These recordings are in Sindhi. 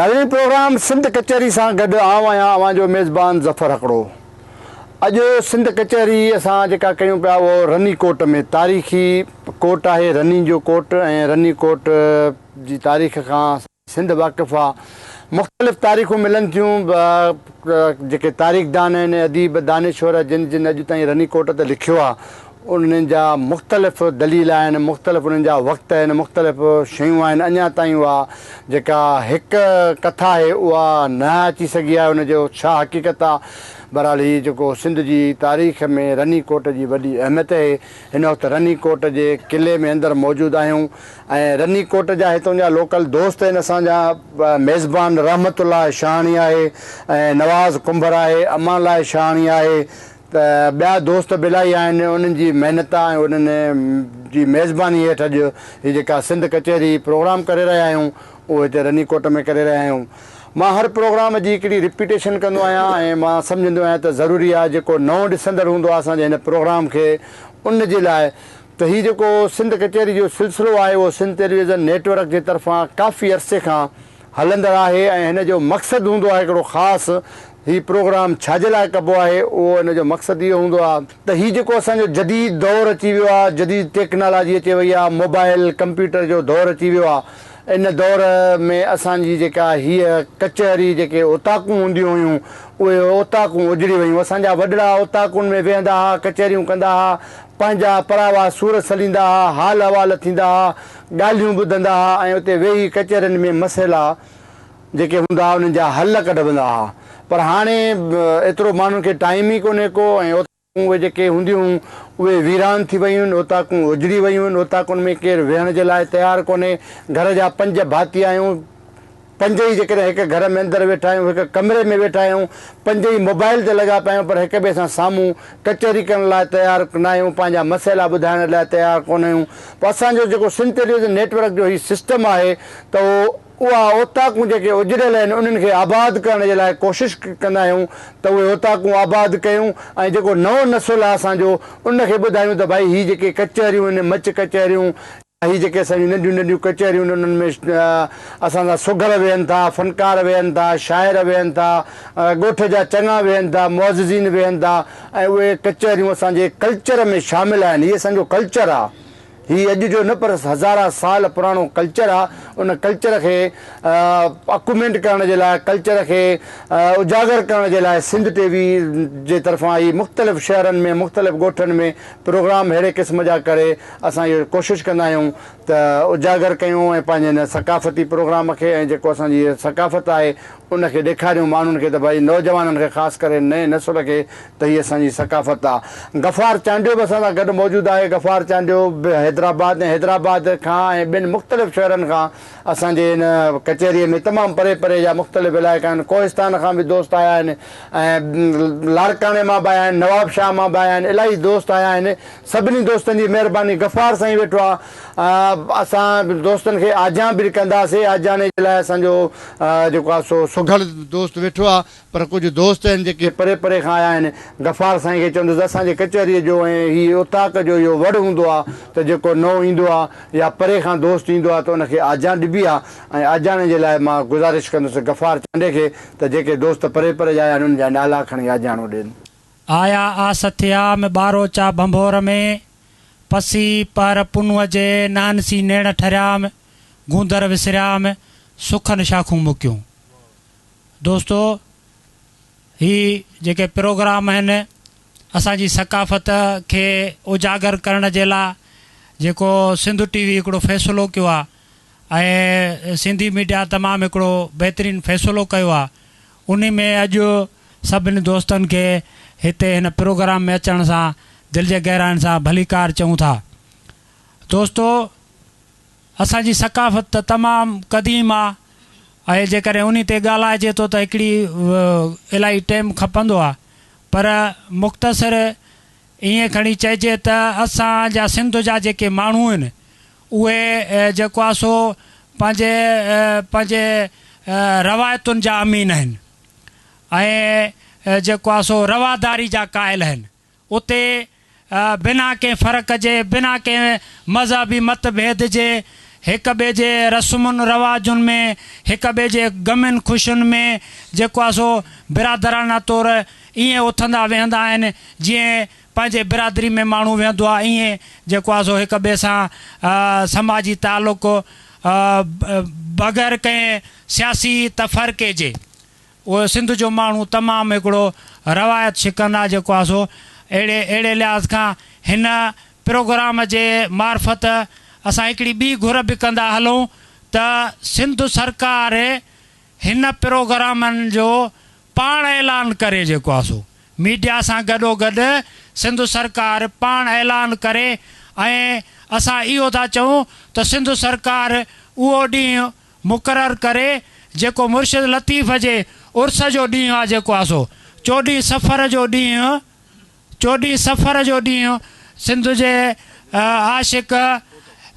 ناظرين پروگرام سنڌ ڪچهري سان گڏ آئون آهيان اوهان جو ميزبان ظفر هڪڙو اڄ سنڌ ڪچهري اسان جيڪا ڪيون پيا اهو رني ڪوٽ ۾ تاريخي ڪوٽ آهي رني جو ڪوٽ ۽ رني ڪوٽ جي تاريخ کان سنڌ واقف آ. مختلف تاريخون ملن ٿيون جيڪي تاريخدان آهن، اديب، دانشور جن جن اڄ تائين رني ڪوٽ تي لکيو آ انهن جا مختلف دليل آهن، مختلف انهن جا وقت آهن، مختلف شيون آهن اڃا تائين اها جيڪا هڪ ڪٿا آهي اها نه اچي سگهي آهي ان جو ڇا حقيقت آ. بهرحال هي جيڪو سنڌ جي تاريخ ۾ رني ڪوٽ جي وڏي اهميت اهي. هن وقت رني ڪوٽ جي قلعي ۾ اندر موجود آهيون. ۽ رني ڪوٽ جا هتون جا لوڪل دوست آهن اسان جا ميزبان رحمت الله شاهاڻي آهي ۽ نواز ڪنڀر آهي امان الله شاهاڻي آهي ته ٻيا دوست به الاهي آهن انهن جي محنت ۽ انهن جي ميزباني هيٺ اڄ هي جيڪا سنڌ ڪچهري پروگرام ڪري رهيا آهيون اهو هتي رني ڪوٽ ۾ ڪري رهيا آهيون مان هر پروگرام جي هڪڙي رپيٽيشن ڪندو آهيان ۽ مان سمجهندو آهيان ته ضروري آهي جيڪو نئون ڏسندڙ هوندو آهي اسان جي هن پروگرام کي ان جي لاء ته هي جيڪو سنڌ ڪچهري جو سلسلو آهي اهو Sindh television network جي طرفان ڪافي عرصي کان هلندڙ آهي ۽ هن جو مقصد هوندو آهي هڪڙو خاص هي پروگرام ڇا جي لاء ڪبو آهي اهو ان جو مقصد اهو هوندو آهي ته هي جيڪو اسان جو جديد دور اچي ويو آهي جديد ٽيڪنالاجي اچي وئي آهي موبائل ڪمپيوٽر جو دور اچي ويو آهي ان دور ۾ اسان جي جيڪا هيء ڪچهري جيڪي اوطاقون هونديون هيون اهي اوطاقون اجڙي ويون اسان جا وڏڙا اوطاقن ۾ ويهندا ها ڪچهريون ڪندا ها پنهنجا پراوا سور سليندا ها، حال احوال ٿيندا ها، ڳالهيون ٻڌندا ها ۽ اتي ويهي ڪچهرين ۾ مسئلا جيڪي هوندا ها انهن جا حل ڪڍبندا ها پر هاڻي ايترو ماڻهن کي ٽائيم ئي ڪونهي ڪو ۽ اوطاقون اهي جيڪي هونديون هيون اهي ويران ٿي ويون آهن اوطاقون اجڙي ويون آهن اوطاقن ۾ ڪير ويهڻ جي لاء تيار ڪونهي گهر جا پنج ڀاتي آهيون پنج ئي جيڪڏهن هڪ گهر ۾ اندر ويٺا آهيون، هڪ ڪمري ۾ ويٺا آهيون، پنج ئي موبائيل تي لڳا پيا آهيون پر هڪ ٻئي سان سامهون ڪچهري ڪرڻ لاء تيار ناهيون، پنهنجا مسئلا ٻڌائڻ لاء تيار ڪونهيون، پوء اسان جو جيڪو سنڌ ٽيليويزن نيٽ ورڪ جو هي سسٽم آهي ته اها اوطاقون جيڪي اجڙيل آهن انهن کي آباد ڪرڻ جي لاء ڪوشش ڪندا آهيون ته اهي اوطاقون آباد ڪيون ۽ جيڪو نئون نسل آهي اسان جو ان کي ٻڌايون ته ڀائي هي جيڪي ڪچهريون آهن مچ ڪچهريون هي جيڪي اسان جون ننڍيون ننڍيون ڪچهريون آهن انهن ۾ اسان سان سگهڙ ويهن ٿا، فنڪار ويهن ٿا، شاعر ويهن ٿا، ڳوٺ جا چڱا ويهن ٿا، معززين ويهن ٿا ۽ اهي ڪچهريون اسان جي ڪلچر ۾ شامل آهن. هي اسان جو ڪلچر آهي. هي اڄ جو نه پر هزارها سال پراڻو ڪلچر آهي. ان ڪلچر کي اڪومينٽ ڪرڻ جي لاء، ڪلچر کي اجاگر ڪرڻ جي لاء سنڌ ٽي وي جي طرفان هي مختلف شهرن ۾ مختلف ڳوٺن ۾ پروگرام ههڙي قسم جا ڪري اسان اهو ڪوشش ڪندا آهيون ته اجاگر ڪيون ۽ پنهنجي هن ثقافتي پروگرام کي ۽ جيڪو اسان جي ثقافت آهي ان کي ڏيکاريون ماڻهن کي ته ڀائي نوجوانن کي خاص ڪري نئين نسل کي ته هي اسان جي ثقافت آ. غفار چانڊيو به اسان سان گڏ موجود آهي غفار چانڊيو به حيدرآباد ۽ حيدرآباد کان ۽ ٻين مختلف شهرن کان اسان جي هن ڪچهري ۾ تمام پري پري جا مختلف علائقا آهن ڪوهستان کان به دوست آيا آهن ۽ لاڙڪاڻي مان به آيا آهن نوابشاهه مان به آيا آهن الاهي دوست آيا آهن سڀني دوستن جي مهرباني غفار سائين ويٺو آ اسان دوستن کي آجيان به ڪنداسي آجياڻي جي لاء اسان جو جيڪو آ سو سگهڙ دوست ويٺو آ پر ڪجهه دوست آهن جيڪي. پري پري کان آيا آهن غفار سائين کي چوندس اسان جي ڪچهري جو ۽ هي اوطاق جو اهو وڙ هوندو آ ته جيڪو نئون ايندو آ يا پري کان دوست ايندو آ ته ان کي آجيان ڏبي آ ۽ آجياڻي جي لاء مان گذارش ڪندس غفار چانڊي کي ته جيڪي دوست پري پري جا آيا آهن ان جا نالا کڻي آجياڻو ڏين. آيا آسٿيا م ٻاروچا ڀنڀور ۾، پسي پهر پنوء جي نهنسي نيڻ ٺريا م گوندر وسريا م سخن شاخون مڪيون. دوستو هي جيڪي پروگرام آهن اسان جي ثقافت کي اجاگر ڪرڻ جي لا جيڪو سنڌ ٽي وي هڪڙو فيصلو ڪيو آ ۽ سنڌي ميڊيا تمام هڪڙو بهترين فيصلو ڪيو آ انهي ۾ اڄ سڀني دوستن کي هتي هن پروگرام ۾ اچڻ سان دل جي گهراين سان ڀليڪار چئون ٿا. دوستو اسان جي ثقافت ته تمام قديم آ ۽ جيڪڏهن انهي تي ڳالهائجي ٿو ته هڪڙي الاهي ٽيم کپندو آ پر مختصر ائين کڻي چئجي ته اسان جا سنڌ جا جيڪي ماڻهو آهن اهي جيڪو آهي سو پنهنجي پنهنجي روايتن جا امين آهن ۽ جيڪو آهي سو رواداري جا قائل آهن. اتي بنا ڪنهن فرق جي، بنا ڪنهن مذهبي مت ڀيد جي هڪ ٻئي جي رسمن رواجن ۾ هڪ ٻئي جي غمين خوشين ۾ جيڪو آهي سو برادرانه طور ائين اٿندا ويهندا آهن جيئن پنهنجي برادري ۾ ماڻهو ويهندو آهي ائين جيڪو آهي سو هڪ ٻئي سان سماجي تعلق بغير ڪنهن سياسي تفرقي جي اهو سنڌ جو ماڻهو تمام هڪڙو روايت شڪن آهي جيڪو آهي سو اهڙي اهڙي لحاظ کان هن پروگرام جي معرفت اسان هڪڙي ٻي گهر به ڪندا هلون ته سنڌ سرڪار هن پروگرامن جو پاڻ اعلان ڪري جيڪو آ سو ميڊيا سان گڏوگڏ سنڌ سرڪار پاڻ اعلان ڪري ۽ اسان اهو ٿا چئون ته سنڌ سرڪار اهو ڏينهن مقرر ڪري جيڪو مرشد لطيف جي عرس جو ڏينهن آ جيڪو آ سو چوڏهين صفر جو ڏينهن چوڏهين سفر جو ڏينهن سنڌ جي عاشق،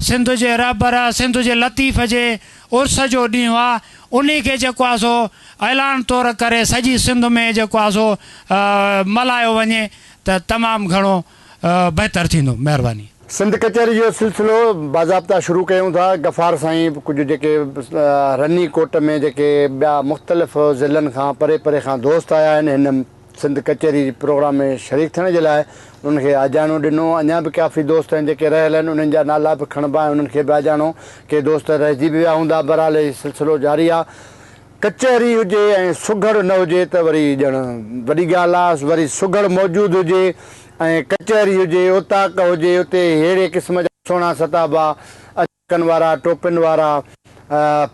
سنڌ جي رهبر، سنڌ جي لطيف جي عرس جو ڏينهن آ، انهي کي جيڪو آ سو اعلان طور ڪري سڄي سنڌ ۾ جيڪو آ سو ملهايو وڃي ته تمام گهڻو بهتر ٿيندو. مهرباني. سنڌ ڪچهري جو سلسلو باضابطا شروع ڪيون ٿا غفار سائين به ڪجهه جيڪي رني ڪوٽ ۾ جيڪي ٻيا مختلف ضلعن کان پري پري کان دوست آيا آهن هن سنڌ ڪچهري جي پروگرام ۾ شريڪ ٿيڻ جي لاء انهن کي آجياڻو ڏنو. اڃا به ڪافي دوست آهن جيڪي رهيل آهن انهن جا نالا به کڻبا ۽ انهن کي به آجياڻو ڪي دوست رهجي به ويا هوندا. بهرحال هي سلسلو جاري آ. ڪچهري هجي ۽ سگهڙ نه هجي ته وري ڄڻ وڏي ڳالهه آ. وري سگهڙ موجود هجي ۽ ڪچهري هجي، اوطاق هجي اتي ههڙي قسم جا سهڻا ستابا اچن. ٽڪن وارا، ٽوپين وارا،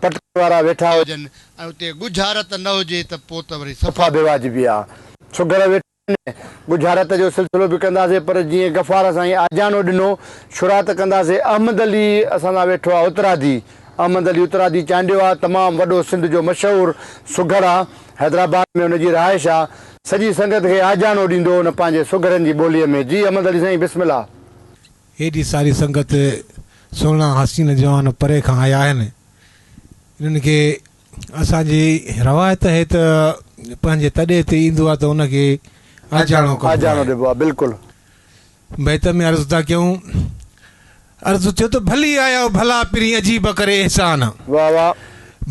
پٽڪن وارا ويٺا هجن ۽ اتي ڳجهارت نه هجي ته پوء ته وري صفا بي واجبي آ. سگهڙ ويٺا آهن، ڳجهارت جو سلسلو به ڪنداسين پر جيئن غفار سائين آجياڻو ڏنو، شروعات ڪنداسين احمد علي اسان سان ويٺو آ اترادي، احمد علي اترادي چانڊيو آ، تمام وڏو سنڌ جو مشهور سگهڙ آ، حيدرآباد ۾ ان جي رهائش آ، سڄي سنگت کي آجياڻو ڏيندو هو ان پنهنجي سگهڙن جي ٻوليء ۾، جي احمد علي سائين بسم الله. هيڏي ساري سنگت سهڻا حسين جوان پري کان آيا آهن. انهن کي اسان جي روايت هي ته پنهنجي تڏي تي ايندو آهي ته ان کي آجياڻو ڪبو آهي. بيت ۾ عرض ٿا ڪيون. عرض ٿيو ته ڀلي آيا او ڀلا پرين عجيب ڪري احسان.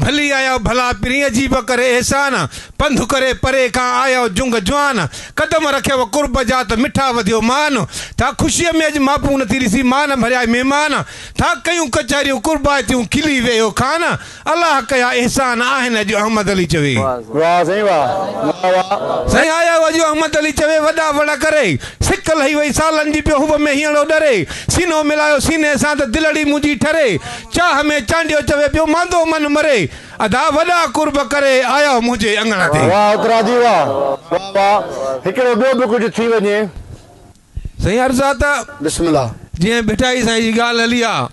ڀلي آيئو ڀلا پرين عجيب ڪري احسان پنڌ ڪري پري کان آيئو جنگ جوان قدم رکيو قرب جا ته مٺا وڌيو مان ٿا خوشيء ۾ اڄ ماپون نٿي ڏسي مان ڀريائي مهمان ٿا ڪيون ڪچهريون قربائتيون کلي ويئو خان الله ڪيا احسان آهن اڄ احمد علي چوي. واهه سائين واهه مولا واهه. سائين آيئو اڄ احمد علي چوي وڏا وڙ ڪري سڪ لهي وئي سالن جي پيو حب ۾ هينئڙو ڏري سينو ملايو سيني سان ته دلڙي منهنجي ٺري چاهه ۾ چانڊيو چوي پيو ماندو من مري ادا وڏا قرب ڪري آيا منهنجي اڱڻ تي. واهه اوترا جي واهه. واهه واهه هڪڙو ٻيو به ڪجهه ٿي وڃي. سائين عرض آ ته. بسم الله. جنهن ڀٽائي سائين جي ڳالهه هلي آ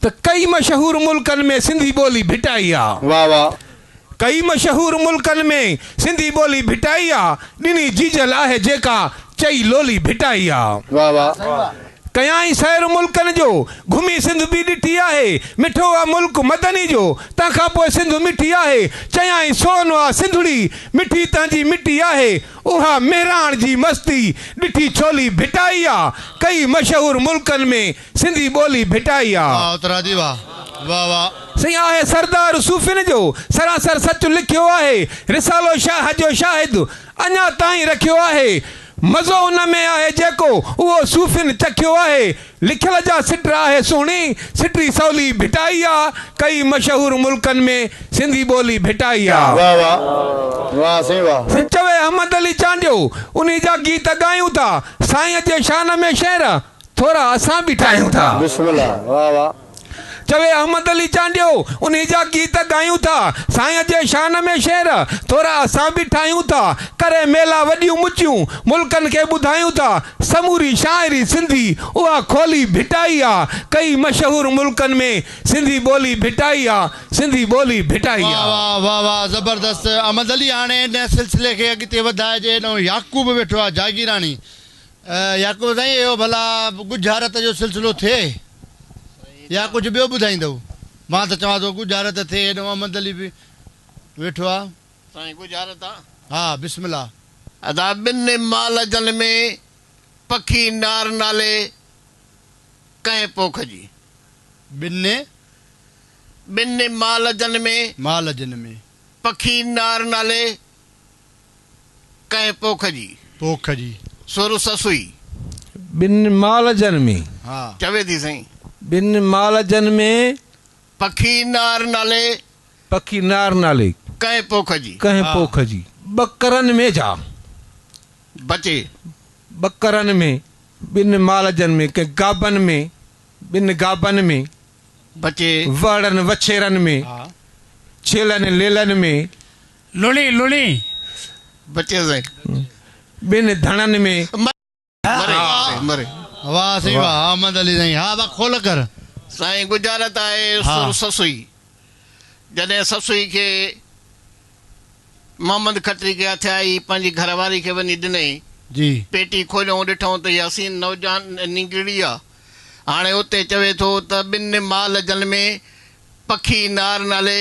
ته ڪئي مشهور ملڪن ۾ سنڌي ٻولي ڀٽائي آ. واهه واهه. ڪئي مشهور ملڪن ۾ سنڌي ٻولي ڀٽائي آ ڏني جيجل آهي جيڪا چئي لولي ڀٽائي آ. واھ واھ ڪيائين سير ملڪن جو گهمي سنڌ به ڏٺي آهي مٺو آ ملڪ مدني جو تنهن کان پوء سنڌ مٺي آهي چيائين سون آ سنڌڙي مٺي تنهنجي مٽي آهي اها مهراڻ جي مستي ڏٺي ڇولي ڀٽائي آ ڪئي مشهور ملڪن ۾ سنڌي ٻولي ڀٽائي آ. واھ اترا جي واھ واھ واھ. سائين آهي سردار صوفين جو سراسر سچ لکيو آهي رسالو شاهه جو شاهد اڃا تائين رکيو آهي مزو ان ۾ آهي جيڪو اهو صوفين چکيو آهي لکيل جا سٽ آهي سهڻي سٽي سولي ڀٽائي آ ڪئي مشهور ملڪن ۾ سنڌي ٻولي ڀٽائي آ. واھ واھ واھ سائين واھ. سائين چوي احمد علي چانڊيو انهي جا گيت ڳايون ٿا سائين جي شان ۾ شعر ٿورا اسان به ٺاهيون ٿا. بسم الله واه واه. چوي احمد علي چانڊيو انهي جا گيت ڳايون ٿا. سائين جي شان ۾ شعر ٿورا اسان به ٺاهيون ٿا. ڪري ميلا وڏيون مچيون ملڪن کي ٻڌايون ٿا. سموري شاعري سنڌي اها کولي ڀٽائي آ. ڪئي مشهور ملڪن ۾ سنڌي ٻولي ڀٽائي آ. سنڌي ٻولي ڀٽائي آ. واه واه واه واه زبردست احمد علي هاڻي هن سلسلي کي اڳتي وڌائجي هيڏانهن يعقوب ويٺو آهي جاگيراڻي يعقوب، سائين اهو ڀلا ڳجهارت جو سلسلو ٿئي يا ڪجهه ٻيو ٻڌائيندؤ؟ مان ته چوان ٿو ڳجهارت ٿئي، هيڏانهن محمد علي به ويٺو آ. سائين ڳجهارت آ؟ ها، بسم الله. ادا ٻن مال جن ۾ پکي نار نالي ڪنهن پوک جي. ٻن؟ ٻن مال جن ۾. مال جن ۾. پکي نار نالي ڪنهن پوک جي. پوک جي. سر سسئي. ٻن مال جن ۾. ها. چوي ٿي سائين. ٻن مال جن ۾. پکي نار نالي. پکي نار نالي. ڪنهن پوک جي. ڪنهن پوک جي. ٻڪرن ۾ جا. بچي. ٻڪرن ۾. ٻن مال جن ۾. ڪنهن گابن ۾. ٻن گابن ۾. بچي. وهڙن وڇيرن ۾. ڇيلن ليلن ۾. لڻي لڻي بچي سائين ٻن ڌڻن ۾. مري مري. واھ سائين واھ احمد علي سائين ھا وا کول ڪر. سائين ڳجھارت آھي سر سسئي جڏھن سسئي کي محمد کٽري کي ھٿيائي پنھنجي گھر واري کي وڃي ڏنئي جي پيٽي کوليئون ڏٺئون ته ھي حسين نوجوان نينگرڙي آ ھاڻي اتي چوي ٿو ته ٻن مال جن ۾ پکي نار نالي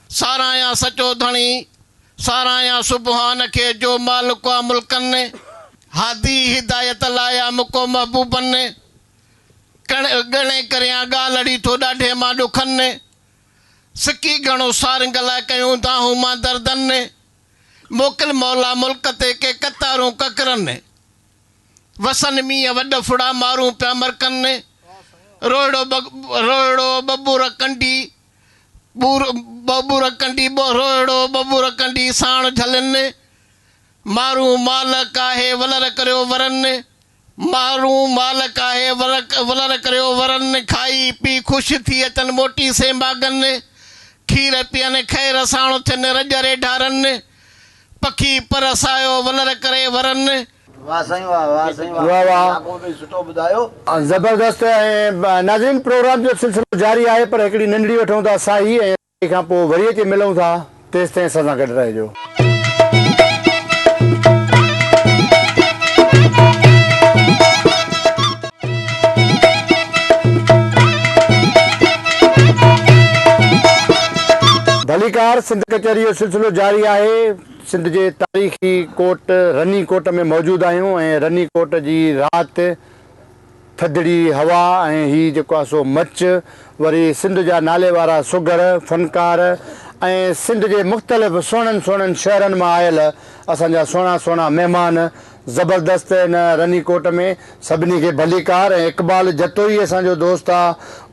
ساراهيان سچو ڌڻي، ساراهيان سبحان کي جو مالڪ آ ملڪن، هادي هدايت لاء آ مڪو محبوبن، ڪڻ ڳڻي ڪريان ڳالهڙي ٿو ڏاڍي مان ڏکن، سڪي گهڻو سارنگ لاء ڪيون دانهون مان دردن، موڪل مولا ملڪ تي ڪي قطارون ڪڪرن، وسن مينهن وڏ ڦڙا مارون پيا مرڪن، روهڙو روهڙو ٻٻر ڪنڊي ٻور ٻه ٻور ڪنڊي ٻهرو اهڙو ٻه ٻور ڪنڊي ساڻ جهلن مارون مال ڪاهي ولر ڪريو ورن مارون مال ڪاهي ولر ڪريو ورن کائي پي خوش ٿي اچن موٽي سين ماڳن کير پين خير ساڻ ٿين رڄ ريڍا رن پکي پر سايو ولر ڪري ورن واھ سائين واھ واھ سائين واھ واھ واھ لاکو ڀي سٺو ٻڌايو. زبردست ۽ ناظرين پروگرام جو سلسلو جاري آهي پر هڪڙي ننڍڙي وٺون ٿا ساهي ۽ ساهي کان پوء وري اچي ملون ٿا تيستائين اسان سان گڏ رهجو. ڀليڪار سنڌ ڪچهري جو سلسلو جاري آهي. سنڌ جي تاريخي ڪوٽ رني ڪوٽ ۾ موجود آهيون ۽ رني ڪوٽ جي رات، ٿڌڙي هوا ۽ هي جيڪو آهي سو مچ وري سنڌ جا ناليوارا سگهڙ، فنڪار ۽ سنڌ جي مختلف سهڻن سهڻن شهرن مان آيل اسان جا سهڻا سهڻا مهمان زبردست ان رني ڪوٽ ۾ سڀني کي ڀليڪار ۽ اقبال جتوئي اسان جو دوست آ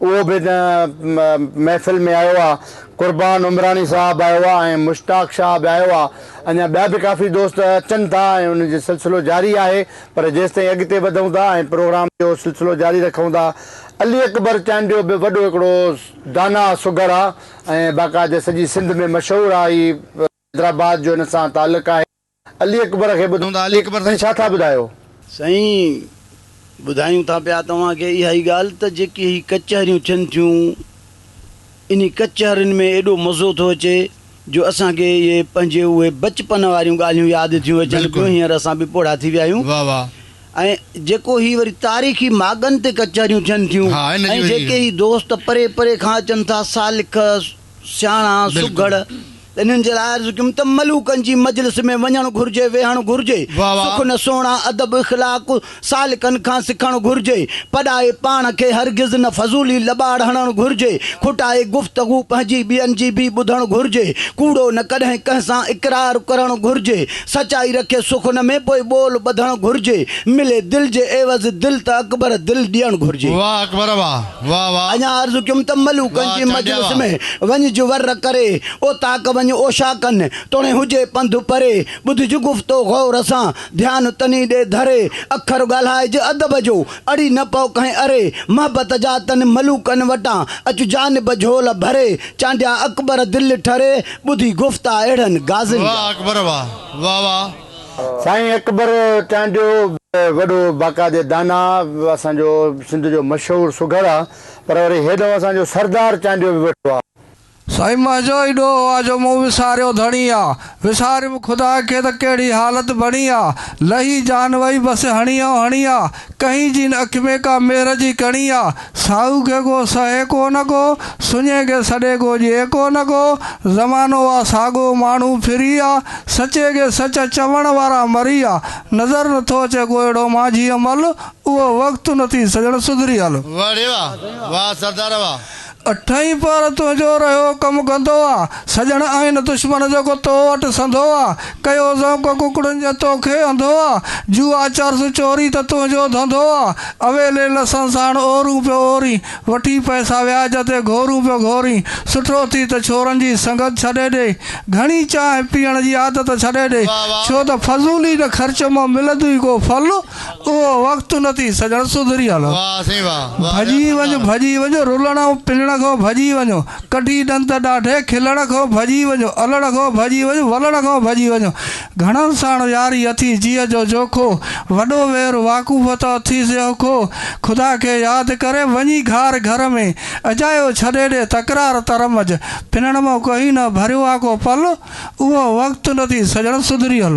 اهو به ان محفل ۾ آيو آ قربان عمراڻي صاحب آيو آ ۽ مشتاق شاهه به آيو آ اڃا ٻيا به ڪافي دوست اچن ٿا ۽ ان جو سلسلو جاري آهي پر جيستائين اڳتي وڌون ٿا ۽ پروگرام جو سلسلو جاري رکون ٿا علي اڪبر چانڊيو به وڏو هڪڙو داناء سگهڙ آ ۽ باقاعده سڄي سنڌ ۾ مشهور آ هي حيدرآباد جو ان سان تعلق آهي. علي اڪبر کي ٻڌون ٿا. علي اڪبر سائين ڇا ٿا ٻڌايو؟ سائين ٻڌايون ٿا پيا توهان کي اها ئي ڳالهه ته جيڪي هي ڪچهريون ٿين ٿيون انهي ڪچهرين ۾ ايڏو مزو ٿو اچي جو اسان کي اهي پنهنجي اهي بچپن واريون ڳالهيون ياد ٿيون اچن پيون هينئر اسان به پوڙها ٿي ويا آهيون ۽ جيڪو هي وري تاريخي ماڳن تي ڪچهريون ٿين ٿيون ۽ جيڪي هي دوست پري پري کان اچن ٿا سالڪ سياڻا، سگهڙ، انهن جي لاء عرض ڪيم ته ملوڪن جي مجلس ۾ وڃڻ گهرجي، ويهڻ گهرجي، سخن، سهڻا، ادب، اخلاق، سالڪن کان سکڻ گهرجي، پڏائي پاڻ کي هرگز نه فضولي لٻاڙ هڻڻ گهرجي، کوٽائي گفتگو پنهنجي ٻين جي به ٻڌڻ گهرجي، ڪوڙو نه ڪڏهن ڪنهن سان اقرار ڪرڻ گهرجي، سچائي رکي سخن ۾ پوء ٻول ٻڌڻ گهرجي، ملي دل جي عيوض دل ته اڪبر دل ڏيڻ گهرجي. واهه اڪبر واهه. واھ واھ. اڃا عرض ڪيم ته ملوڪن جي مجلس ۾ وڃ جو ور ڪري، اوطاق وڃ اوشاڪن توڻي هجي پنڌ پري، ٻڌج گفتو غور سان، ڌيان تني ڏي ڌري، اکر ڳالهائج ادب جو، اڙي نه پئو ڪنهن اري، محبت جا تن ملوڪن وٽان، اچ جانب جهول ڀري، چانڊيا اڪبر دل ٺري، ٻڌي گفتا اهڙن غازين جا. واھ اڪبر واھ. واھ واھ. سائين اڪبر ٽانڊيو وڏو باقاعدي دانا اسان جو سنڌ جو مشهور سگهڙ آ پر وري هيڏئون اسان جو سردار ٽانڊيو به ويٺو آ. سائين منهنجو ئي ڏوهه آ جو مون وساريو ڌڻي آ وساريم خدا کي ته ڪهڙي حالت بڻي آ لهي جان وئي بس هڻيئون هڻي آ ڪهين جين اک ۾ ڪا مهر جي ڪڻي آ، ساهو کي ڪو سهي ڪو نه ڪو، سڃي کي سڏي ڪو ڄي ڪو نه ڪو، زمانو آ ساڳو ماڻهو ڦري آ، سچي کي سچ چوڻ وارا مري آ، نظر نه ٿو اچي ڪو اهڙو مانجهيء مل، اهو وقت نه ٿي سڄڻ سڌري هل. وڙي واهه واهه سردار واهه. اٺئين پهر تنهنجو رهيو ڪم گندو آ، سڄڻ آهن دشمن جيڪو تو وٽ سندو آ، ڪيو ذوق ڪڪڙن جنهن توکي انڌو آ، جوا چرس چوري ته تنهنجو ڌنڌو آ، اويلي لسن ساڻ اورون پيو اورين، وٺي پئسا وياج تي گهورون پيو گهورين، سٺو ٿي ته ڇورن جي سنگت ڇڏي ڏي، گهڻي چانهه پيئڻ جي عادت ڇڏي ڏي، ڇو ته فضول ئي نه خرچ مان ملندوئي ڪو ڦل. اهو وقت نه ٿي سڄڻ سڌري هل. ڀڄي وڃ ڀڄي وڃ رلڻ ۽ پلڻ کان ڀڄي وڃ. ڪڍي ڏند ڏاڍي کلڻ کان ڀڄي وڃ. الڻ کان ڀڄي وڃ ولڻ کان ڀڄي وڃ. گهڻن ساڻ ياري اٿي جيء جو جوکو. وڏو وير واقوف ته اٿي سي اوکو. خدا کي ياد ڪري وڃي گهار گهر ۾. اجايو ڇڏي ڏي تڪرار ترمج. پنڻ مون ڪهين نه ڀريو آ ڪو پل. اهو وقت نه ٿي سڄڻ سڌري هل.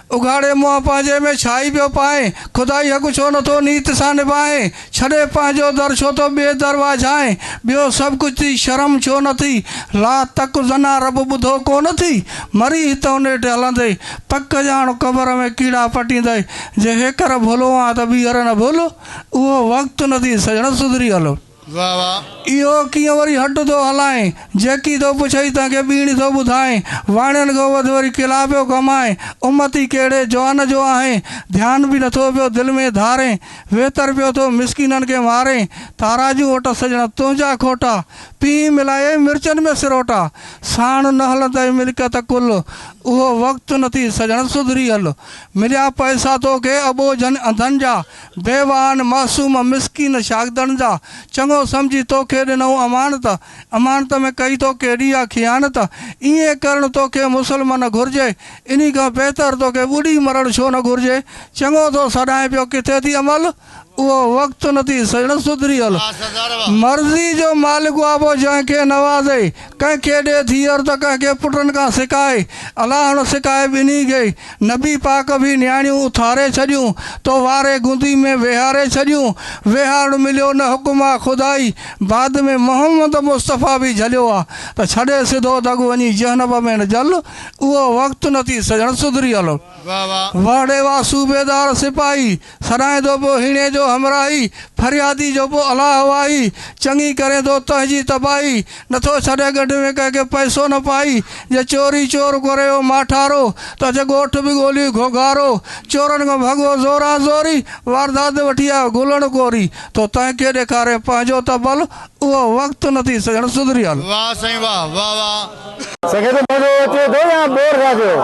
اگهاڙي منهن پنهنجي ۾ ڇاهي پيو پائين، خدائي حق ڇو نٿو نيت سان نڀائين، ڇڏي پنهنجو در ڇو ٿو ٻئي در واجهائين، ٻيو سڀ ڪجهه ٿي شرم ڇو نه ٿي، لا تڪ زنا رب ٻڌو ڪو نه ٿي، مري هتئون نيٺ هلندئي، پڪ ڄاڻ قبر ۾ ڪيڙا پٽيندئي، جي هيڪر ڀولو آن ته ٻيهر نه ڀولو، اهو وقت نه ٿي سڄڻ سڌري هلو. واھ واھ. اهو ڪيئن وري هٽ ٿو هلائين. جيڪي ٿو پڇئي تنهن کي ٻيڻي ٿو ٻڌائين. واڻين کان وڌ وري ڪلا پيو ڪمائين. امتي ڪهڙي جوان جو آهين. ڌيان به نٿو پيو دل ۾ ڌارين. ويتر پيو ٿو مسڪينن کي مارين. تاراجون وٽس سڄڻا تنهنجا کوٽا. پيهين ملائي مرچن ۾ سروٽا. ساڻ نه هلندئي ملڪيت ڪل. اهو وقت نه ٿي سڄڻ سڌري هل. مليا پئسا توکي اٻوجهن انڌن جا. ديوان، معصوم مسڪين شاگدڙن جا، چڱو سمجهي توکي ڏنئون امانت، امانت ۾ ڪئي تو ڪيڏي آ خيانت، ائين ڪرڻ توکي مسلمه نه گهرجي، انهي کان بهتر توکي ٻڏي مرڻ ڇو نه گهرجي، چڱو ٿو سڏائين پيو ڪٿي ٿي عمل، اهو وقت نه ٿي سڄڻ سڌري هل، مرضي جو مالڪ اهابو جنهن کي نوازي، ڪنهن کي ڏي ڌيئر ته ڪنهن کي پٽن کان سڪائي، الاهڻ سڪائي ٻنهي گئي، نبي پاڪ به نياڻيون اٿاري ڇڏيون، تو واري گندي ۾ ويهاري ڇڏيون، ويهارڻ مليو نه حڪم آ خدائي، بعد ۾ محمد مصطفيٰ به جهليو آ، ته ڇڏي سڌو دڳ وڃي جهنم ۾ نه جل، اهو وقت نه ٿي سڄڻ سڌريل، وهڙي واه صوبيدار سپاهي. سڏائين ٿو پوء هيڻي جو همراهي، فريادي جو پوء الاه واهي، چڱي ڪرين ٿو تنهنجي تباهي، نٿو ڇڏين ڳڍ ۾ ڪنهن کي پئسو نه پائي، جي چوري چور ڪري هو ماٺارو، ته اچ ڳوٺ به ڳولي گهوگهارو، چورن کان ڀڳو زوران زوري، واردات وٺي آيو گولڻ ڪوري، تو تنهن کي ڏيکارين پنهنجو ته ڀل، اهو وقت نه ٿي سڄڻ سڌريل. واھ سائين واھ واھ واھ. سگهي ٿو مزو اچي ٿو يا بور ٿا ٿيو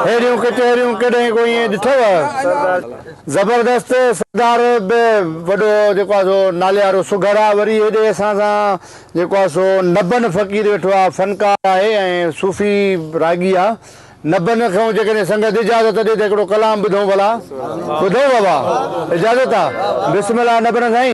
ههڙيون ڪچهريون ڪڏهن ڪو ائين ڏٺو. زبردست سردار به وڏو جيڪو آ سو ناليارو سگهڙ آ وري هيڏي اسان سان جيڪو آ سو نبن فقير ويٺو آ فنڪار آهي ۽ صوفي راڳي آ نبن کون جيڪڏهن سنگت اجازت ڏي ته هڪڙو ڪلام ٻڌون ڀلا ٻڌون بابا اجازت آ بسم الله نبن سائين.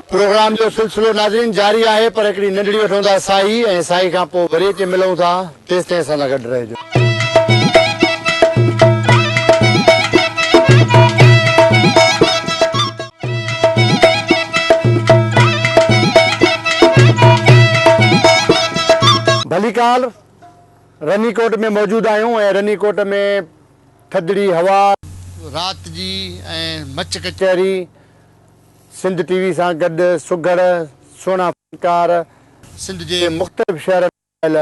پروگرام جو سلسلو ناظرين جاري آهي پر هڪڙي ننڍڙي وٺون ٿا ساهي ۽ ساهي کان پوء وري اچي ملون ٿا تيستائين اسان سان گڏ رهجو. ڀليڪار رني ڪوٽ ۾ موجود آهيون ۽ رني ڪوٽ ۾ ٿڌڙي هوا. رات جي ۽ مچ ڪچهري. سنڌ ٽي وي سان گڏ سگهڙ سهڻا فنڪار. سنڌ جي مختلف شهرن ۾ آيل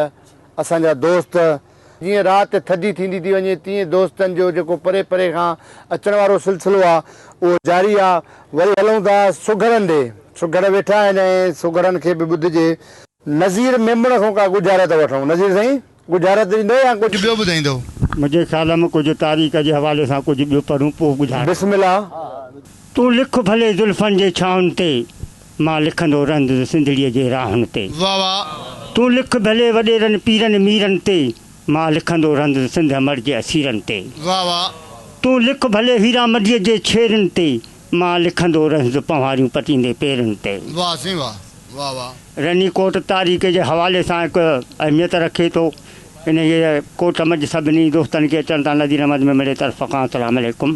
اسان جا دوست. جيئن رات ٿڌي ٿيندي ٿي وڃي تيئن دوستن جو جيڪو پري پري کان اچڻ وارو سلسلو آ اهو جاري آ. وري هلون ٿا سگهڙن ڏي. سگهڙ ويٺا آهن ۽ سگهڙن کي به ٻڌجي. نذير ميمڻ کان ڪا ڳجهارت وٺون. نذير سائين ڳجهارت ڏيندو يا ڪجهه ٻيو ٻڌائيندو؟ منهنجي خيال ۾ ڪجهه تاريخ جي حوالي سان ڪجهه ٻيو پڙهون پوء ڳجهارت. بسم الله. تون لک ڀلي زلفن جي ڇانهن تي، مان لکندو رهندس سنڌڙيء جي راهن تي. واھ واھ. تون لک ڀلي وڏيرن پيرن ميرن تي، مان لکندو رهندس سنڌ امڙ جي اسيرن تي. واھ واھ. تون لک ڀلي هيرامنڊيء جي ڇيرن تي، مان لکندو رهندس پنهواريون پٽيندي پيرن تي. واھ سائين واھ واھ واھ. رني ڪوٽ تاريخ جي حوالي سان هڪ اهميت رکي ٿو انهيء ڪوٽ منجھ سڀني دوستن کي اچڻ تان نذير احمد ميمڻي طرف کان السلام عليڪم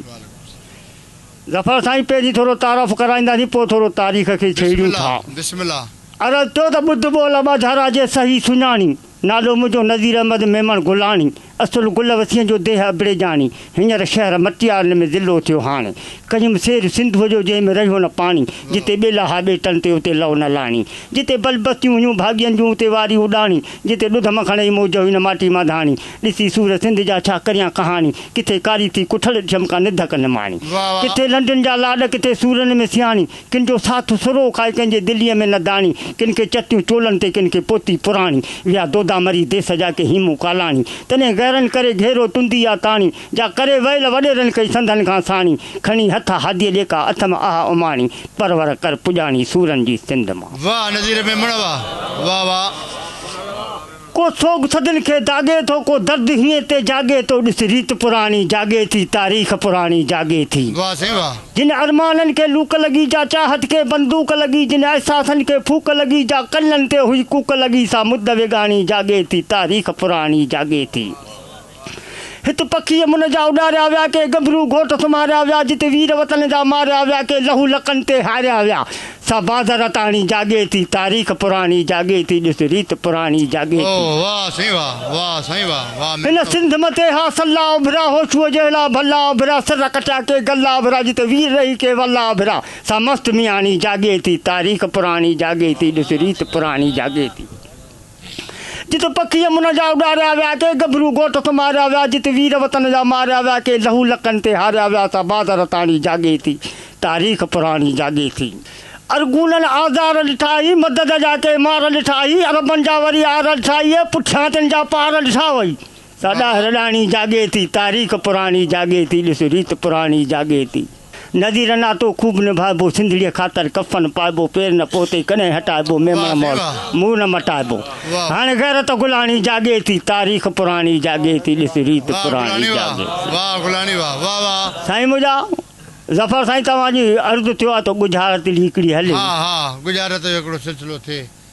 ظفر سائين پهرين ٿورو تعارف ڪرائينداسين پوء ٿورو تاريخ کي ڇيڙيون ٿا عرض ٿيو ته ٻڌ ٻول ٻاجھارا جي صحيح سڃاڻي نالو منهنجو نذير احمد ميمڻ گلاڻي. اصل گل وسين جو ديهه ابڙيجاڻي، هينئر شهر مٽيارن ۾ ضلعو ٿيو هاڻي. ڪيم سير سنڌوء جو جنهن ۾ رهيو نه پاڻي، جتي ٻيلا ها ٻيٽن تي اتي لئو نه لاڻي. جتي بل بستيون هيون ڀاڳين جون اتي واري اڏاڻي، جتي ڏڌ مکڻ ئي موج هئي نه ماٽي مان ڌاڻي. ڏسي سور سنڌ جا ڇا ڪريان ڪهاڻي، ڪٿي ڪاري ٿي ڪٺل ڏٺم ڪا نڌڪ نماڻي. ڪٿي لنڊن جا لاڏ ڪٿي سورن ۾ سياڻي، ڪن جو ساٿ سروڪ آهي ڪنهن جي دليء ۾ نه داڻي ڪن کي چتيون چولن تي ڪن کي پوتي پراڻي ويا دودا مري ديس جا ڪي هيمون ڪالاڻي تڏهن غيرن ڪري گهيرو تندي آ تاڻي جا ڪري ويل وڏيرن ڪئي سنڌن کان ساڻي کڻي هٿ هاديء ڏيڪا اٿم اها اماڻي پرور ڪر پڄاڻي سورن جي سنڌ مان. واھ نظير ميمڻ واھ واھ واھ. ڪو سوڳ صدين کي داڳي ٿو، ڪو درد هينئن تي جاڳي ٿو، ڏس ريت پراڻي جاڳي ٿي، تاريخ پراڻي جاڳي ٿي. واھ سائين واھ. جن ارمانن کي لوڪ لڳي جا چاهت کي بندوق لڳي جن احساسن کي ڦوڪ لڳي جا ڪنن تي هئي ڪوڪ لڳي سا مدويڳاڻي جاڳي ٿي تاريخ پراڻي جاڳي ٿي. هت پکيء منهن جا اڏاريا ويا، ڪي ڳڀرو گهوٽ سمهاريا ويا، جت وير وطن جا ماريا ويا، ڪي لهو لڪن تي هاريا ويا. سا باز رتاڻي جاڳي ٿي، تاريخ پراڻي جاڳي ٿي، ڏس ريت پراڻي جاڳي ٿي. اوه واهه سائين واهه، واهه سائين واهه، واهه مينهن هن جو. سنڌ مٿي ها سلا اڀرا، هوشوء جهڙا ڀلا اڀرا، سر ڪٽيا ڪي گلا اڀرا، جت وير رهي ڪي ولا اڀرا، سا مست مياڻي جاڳي ٿي، تاريخ پراڻي جاڳي ٿي، ڏس ريت پراڻي جاڳي ٿي. جت پکي يمن جا اڏاريا ويا، ڪي گڀرو ڳوٺ ٿو ماريا ويا، جت وير وطن جا ماريا ويا، ڪي لهو لڪن تي هاريا ويا، سا باد رتاڻي جاڳي ٿي، تاريخ پراڻي جاڳي ٿي. ارغونن آزار ڏٺا اي، مدد جا ڪي مار ڏٺا اي، عربن جا وري آر ڏٺا اي، پٺيان تن جا پار ڏٺا اي. ساڏا رڏاڻي جاڳي ٿي، تاريخ پراڻي جاڳي ٿي، ڏس ريت پراڻي جاڳي ٿي. نذير ناتو خوب نڀائبو، سنڌڙيء خاطر ڪفن پائبو، پير نه پوتي ڪڏهن هٽائبو، ميمڻ مول منهن نه مٽائبو. هاڻي غيرت گلاڻي جاڳي ٿي، تاريخ پراڻي جاڳي ٿي، ڏس ريت پراڻي جاڳي ٿي. سائين منهنجا ظفر سائين توهان جي عرض ٿيو آهي ته ڳجهارت جي هڪڙي هلي.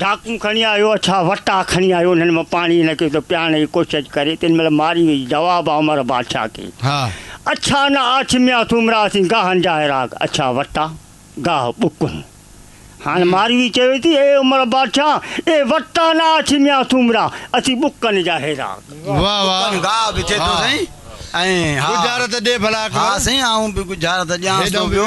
ڊاڪون کڻي آيو اڇا وٽا کڻي آيو انهن مان پاڻي هن کي ٿو پيارڻ جي ڪوشش ڪري تن مهل ماري ويئي جواب آ عمر بادشاهه کي اڇا نه آڇ ميان سومرا اسين گاهن جا هيراگ اڇا وٽا گاهه ٻڪون هاڻ ماري ويئي چوي ٿي اي عمر بادشاهه اي وٽا نه آڇ ميان سومرا اسين ٻڪن جا هيراگ ٻڪن گاهه به چي ٿو سائين ۽ ها ڳجهارت ڏي ڀلا اڪبر ها سائين آئون به ڳجهارت ڏيانس ٿو ٻيو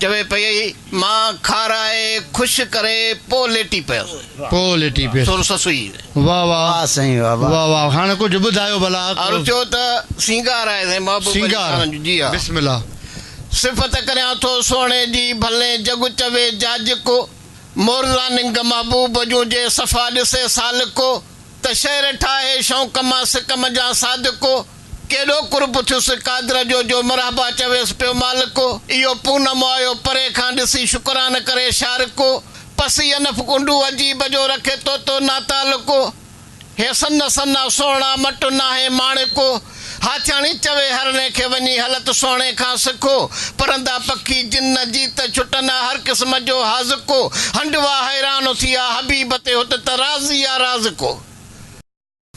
چوي پئي مان کارائي خوش ڪري پوء ليٽي پيس. پوء ليٽي پيس. سر سسئي. واھ واھ. واھ سائين واھ واھ. واھ واھ هاڻ ڪجهه ٻڌايو ڀلا. عرض ٿيو ته سينگار آهي سائين محبوب علي سينگار خان جو جي ها. بسم الله. صفت ڪريان ٿو سهڻي جي ڀلين جڳ چوي جاجڪ مورزا ننگ محبوب جون جي صفا ڏسي سالڪ ته شعر ٺاهي شوق مان سڪم جان صادق. ڪيڏو قرب ٿيس قادر جو، جو مرحبا چويس پيو مالڪ، اهو پونم آيو پري کان ڏسي شڪران ڪري شارڪ، پسي انف ڪنڊو عجيب جو رکي تو تو ناتعلق، هي سن سنا سهڻا مٽ ناهي ماڻڪ، هاڇاڻي چوي هرڻي کي وڃي هلت سهڻي کان سک، پرندا پکي جن جيت ڇٽن آ هر قسم جو حاذق، هنڊوا حيران ٿي آ حبيب تي هت ته رازي آ رازق.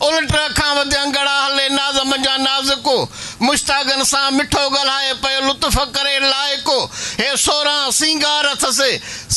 الٽ اکان وڌيان ڳڙا هلي ناز منجهان نازڪو مشتاقن سان مٺو ڳالهائي پيو لطف ڪري لائقو هي سورهان سينگار اٿس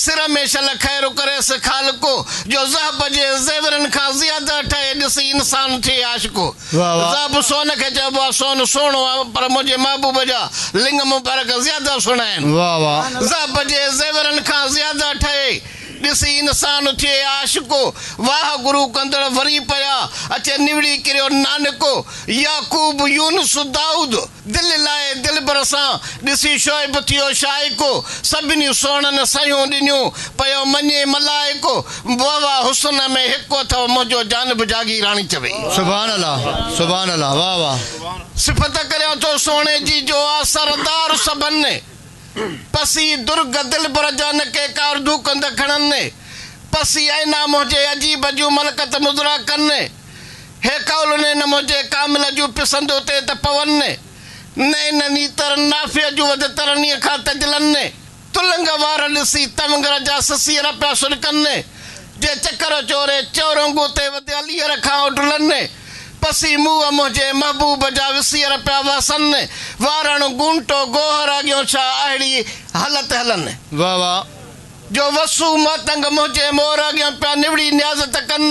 سر ۾ شل خير ڪريس خالقو جو ذهب جي زيورن کان زياده ٺهي ڏسي انسان ٿئي عاشقو ذهب سون کي چئبو آهي سون سهڻو آهي پر منهنجي محبوب جا لنڱ مبارڪ زياده سهڻا آهن ذهب جي زيورن کان زياده ٺهي ڏسي انسان اٿئي عاشقو، واهه گرو ڪندڙ وري پيا، اچي نوڙي ڪريو نانڪو، يعقوب يونس دائود، دل لائي دلبر سان، ڏسي شعيب ٿيو شائقو، سڀني سهڻن سهيون ڏنيون، پيو مڃي ملائڪو، وهوا حسن ۾ هڪ اٿئو منهنجو جانب جاگيراڻي چوي. سبحان الله سبحان الله واه واه. صفت ڪريان ٿو سهڻي جي جو آ سردار سڀن. پسي درگ دلبر جا نڪي ڪارڌو ڪنڌ کڻن، پسي ائين نه موهجي عجيب جون ملڪت مضرا ڪن، هي قول ني نه موهجي ڪامل جون پسندو تي ته پون، نئين نه نيتر نافع جون وڌ ترنيء کان تجلن، تلنگ وار ڏسي تونگر جا سسير پيا سڏڪن، جي چڪر چوري چورونگو تي وڌيل ايئر کان اڊلن پسي منهن منهنجي محبوب جا وسير پيا وهسن وارڻ گونٽو گوهر اڳيون ڇا اهڙي هلت هلن. واهه واهه جو وسو ماتنگ منهنجي مور اڳيان پيا نوڙي نيازت ڪن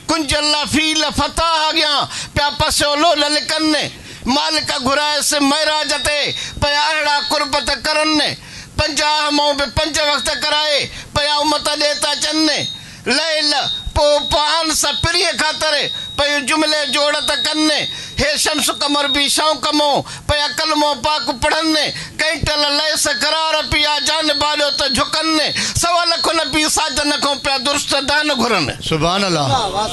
ڪنج الله فيل فتاح اڳيان پيا پسيو لول لڪن مالڪ گهرائيس معراج تي پيا اهڙا قربت ڪرن. پنجاهه مئو به پنج وقت ڪرائي پيا امت ڏي ٿا اچن ني ليل پو پوهان سا پرينء خاطر پيون جملي جوڙ ٿا ڪن ني هي شمس قمر بي شوق مئو پيا ڪلمو پاڪ پڙهن ني ڪئين ٽل ليس قرار پيا جان باڏيو ته جهڪن ني سوا لکو نبي ساجن کئون پيا درست دان گهرن. سبحان الله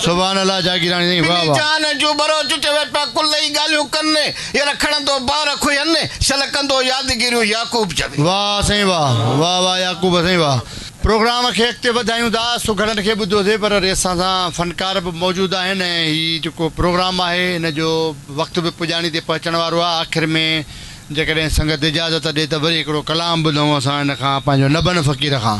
سبحان الله جاگيراڻي سائين واھ واھ. پنهنجي جان جون ٻروچ چوي پيا ڪل ئي ڳالهيون ڪن ني. يل کڻندو بار کهين، شل ڪندو يادگيريون يعقوب جا وي. واه سائين واه واه واه يعقوب سائين واه پروگرام کي اڳتي وڌايون ٿا سگهڙن کي ٻڌوسي پر وري اسان سان فنڪار به موجود آهن ۽ هي جيڪو پروگرام آهي ان جو وقت به پڄاڻي تي پهچڻ وارو آهي آخر ۾ جيڪڏهن سنگت اجازت ڏي ته وري هڪڙو ڪلام ٻڌون اسان ان کان پنهنجو نبن فقير کان.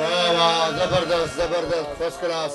واه واه زبردست زبردست فرسٽ ڪلاس.